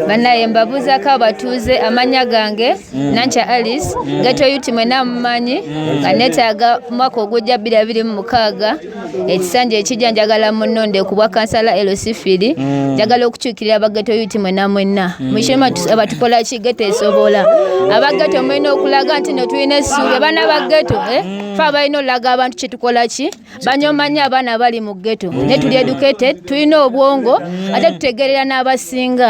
banaye mbabuuzako abatuuze amannya gange mm. nankya alice mm. geto yuti mwena amumanyi mm. nga netaaga mwaka ogujja bbiri abiri mu mukaaga ekisanja ekijja njagala munonde kubwa kansala elosifiri njagala okukyukirira abageto yuti mwena mwena mushema abatukola ki geto esobola abageto mwena okulaga nti no tulina essuubi abaana bageto eh? fe abalina olaga abantu kyetukola ki banyomanyo abaana abali mu geto naye tuli educated tulina obwongo ate tutegerera n'abasinga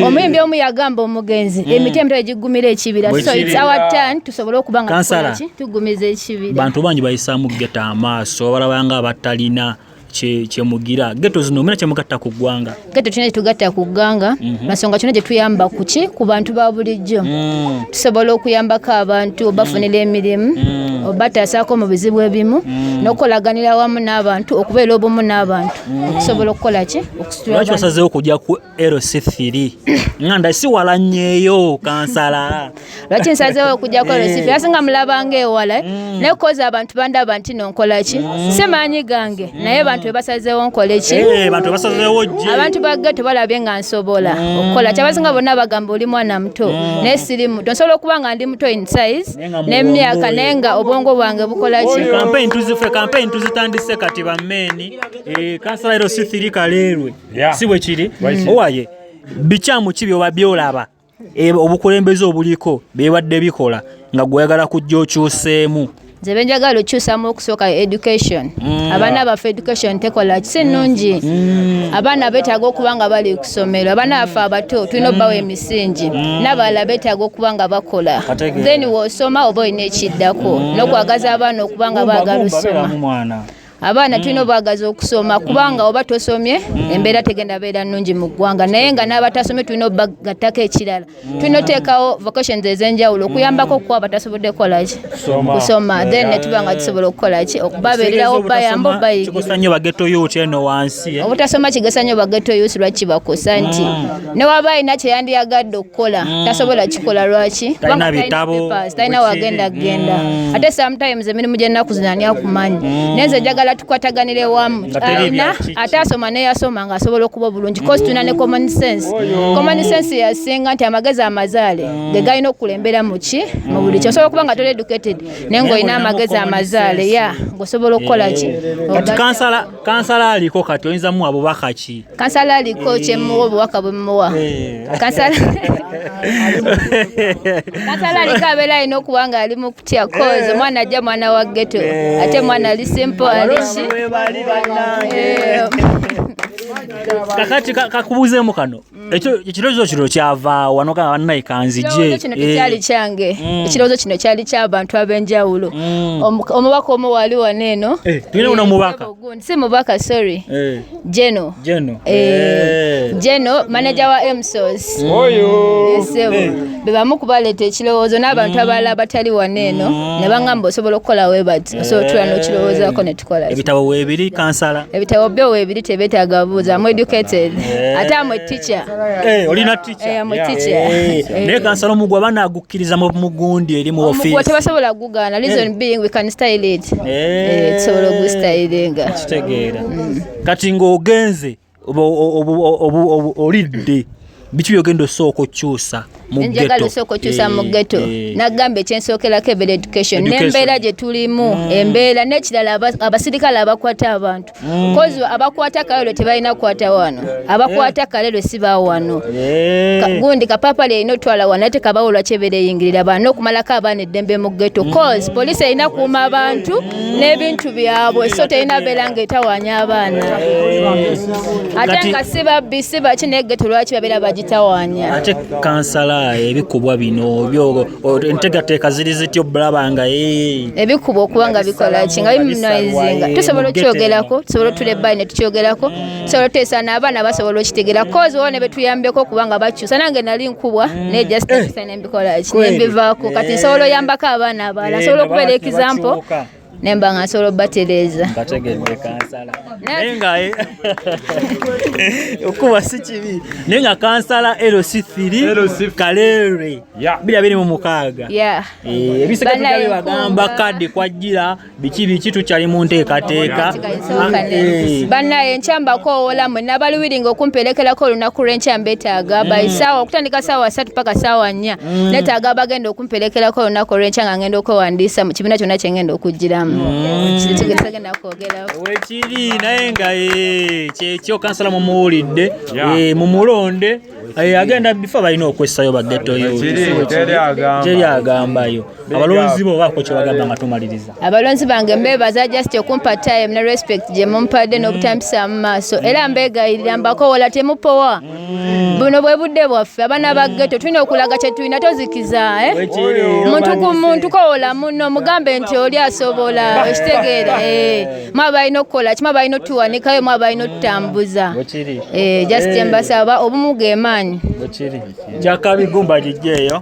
omuyimbi omu yagamba omugenzi mm. emiti emitwe egigumira ekibira so its our turn tusobole okuba nga tukolaki tugumiza ekibira bantu bangi bayisaamu geto amaaso balabanga abatalina kyemugira geto zino omuna kyemugatta ku ggwanga Gato tulina kyetugatta ku gganga mhm. nasonga tulina kyetuyamba kuki ku bantu ba bulijjo mm. tusobola okuyambako abantu obafunira mm. emirimu mm. obatasaako mu bizibu ebimu nokukolaganira awamu n'abantu okubeera obumu n'abantu okusobola okukola ki okusitulaki osazeewo okujja ku lc3 nga nda siwalanyeeyo kansala lwaki nsazeewo okujjako olwo eh. sifeera singa mulabanga ewala eh? mm. naye koza abantu bandaba nti nonkola ki mm. si maanyi gange mm. naye bantu bebasazeewo nkole ki eh, abantu bagge tebalabye nga nsobola okukola kyabasinga bonna bagamba oli mwana muto naye siri muto nsobola okuba nga ndi muto in size nemyaka naye nga obwongo bwange bukola ki kampeyini tuzitandise kati bammeeni kansala ero si thiri kaleerwe si bwe kiri owaye bikyamu ki byoba byolaba E, obukulembeze obuliko bibadde bikola nga gweyagala kujja okyuseemu nze benjagala okyusamu okusooka education mm. abaana baffe education tekola kisi nnungi mm. mm. abaana betaaga okuba nga bali kusomero abaana baffe abato tulina obawa mm. emisingi mm. nabalala betaaga okuba nga bakola then wosoma oba olina ekiddako mm. nokwagaza abaana okuba nga bagala osoma abaana mm. tulina obwagazi okusoma kubanga oba tosomye mm. embeera tegenda beera nnungi mu ggwanga naye nga n'abatasomye tulina obagattako ekirala mm. tulina oteekawo vocations ez'enjawulo okuyambako okuwa abatasobodde kukolaki kusoma then netuba nga tusobola okukolaki okubabeererawo bayamba obayigiobutasomakigesa nnyo bageto yusi lwaki kibakosa nti newaba alina kyeyandiyagadde okukola mm. tasobola kikola lwaki talina bitabo talina wagenda kugenda mm. ate sometimes emirimu gyennaku zino ani akumanyi mm. nenze njagala tukwataganire wamu alina ate asoma neyasoma nga asobola okuba obulungi kosi tulina ne common sense common sense yasinga nti amagezi amazaale ge galina okukulembera muki mu buli kyo osobola okuba nga toli educated naye ngaolina amagezi amazaale ya ngaosobola okukola ki kansala aliko kati oyinza muwa bubaka ki kansala aliko eh. kyemuwa obubaka bwemuwa eh. kansala aliko abeera alina okuba nga ali mu kutya kozi eh. omwana ajja mwana wa geto ate mwana ali simpo aliki kakati kakubuuzemu kano Mm. ekyo ekirowoozo kino kyava wano ka banaye kanzije kino eh. tekyali kyange mm. ekirowoozo kino kyali kyabantu ab'enjawulo mm. omubaka omu wali wano eno eh, tulina uno eh, mubaka si mubaka sorry jeno jeno jeno manaja wa emsos oyo bebamu kubaleeta ekirowoozo n'abantu mm. abalala batali wano eno mm. ne bangamba osobola okukola webati eh. osobola otula n'okirowoozako ne tukola ebitabo weebiri kansala ebitabo byo weebiri tebeetaaga buuza amu educated eh. ate amu eticha eh, olina ticha amu ticha naye kansala omugwa banaagukkiriza mu mugundi eri mu ofiisi tebasobola kugugaana reason being we can style it tusobola ogustylinga kitegeera mm. kati ng'ogenze olidde biki byogenda osooka okyusa njagala osooka okyusa mu geto eh, eh. nagamba ekyensookerako ebera education nembeera gyetulimu mm. embeera nekirala abasirikale abakwata abantu mm. kozi abakwata kalelo tebalina kukwata wano abakwata eh. kalelo siba wano gundi kapapa lyerina otwala wano ate kabawolwa kyebera eyingirira bano nokumalako abaana eddembe mu geto mm. kozi poliisi erina kuuma abantu n'ebintu byabwe so terina beera ng'etawaanya abaana ate nga si babbi si baki naye geto lwaki babeera bagitawaanya ate kansala ebikubwa bino byo entegateeka ziri zitya obulaba nga eh. ebikubwa okuba nga bikola ki nga bimunaizinga tusobola okukyogerako tusobola otula ebbali ne tukyogerako tusobola oteesa n'abaana basobola okitegeera kozi wona betuyambeko okuba nga bakyusa nange nali nkubwa naye just eh. mbikola ki nembivaako kati eh. nsobola oyambako abaana abalala eh, nsobola okubeera ekizampo nemba nga nsobola obatereeza naye nga eh, okuba si kibi naye nga kansala lc thiri kaleere bira biri mu mukaaga ebisigadde bagamba kadi kwajjira biki biki tukyali mu nteekateeka eh. bannaye enkya mbakoowola mwe nabaluwiringa okumperekerako olunaku lw'enkya mbeetaaga mm. by saawa okutandika saawa satu paka saawa nnya mm. neetaaga abagenda okumperekerako olunaku olw'enkya nga ngenda okwewandiisa mu kibiina kyonna kye ngenda okugiramu mm. kitagenda kwogerako wekiri naye nga eh, kyekyo kansala mumuwulidde eh, mumulonde agenda bifa balina okwessayo bagettoyogyeri agambayo abalonzi bo baako kyebagamba nga tumaliriza abalonzi bange mbebaza just okumpa time ne respect gye mumpadde mm. n'obutambisa mu maaso mm. era mbegayirira mbakowola temupowa mm. buno bwe budde bwaffe abaana ba getto tulina okulaga kye tulina tozikiza eh? muntu ku muntu kowola muno mugambe nti oli asobola okitegeera eh. mwa balina okukola kima balina otuwanikayo mwa balina otutambuza eh, just eh. mbasaba obumu gemaanyi kyakabigumba gijjeeyo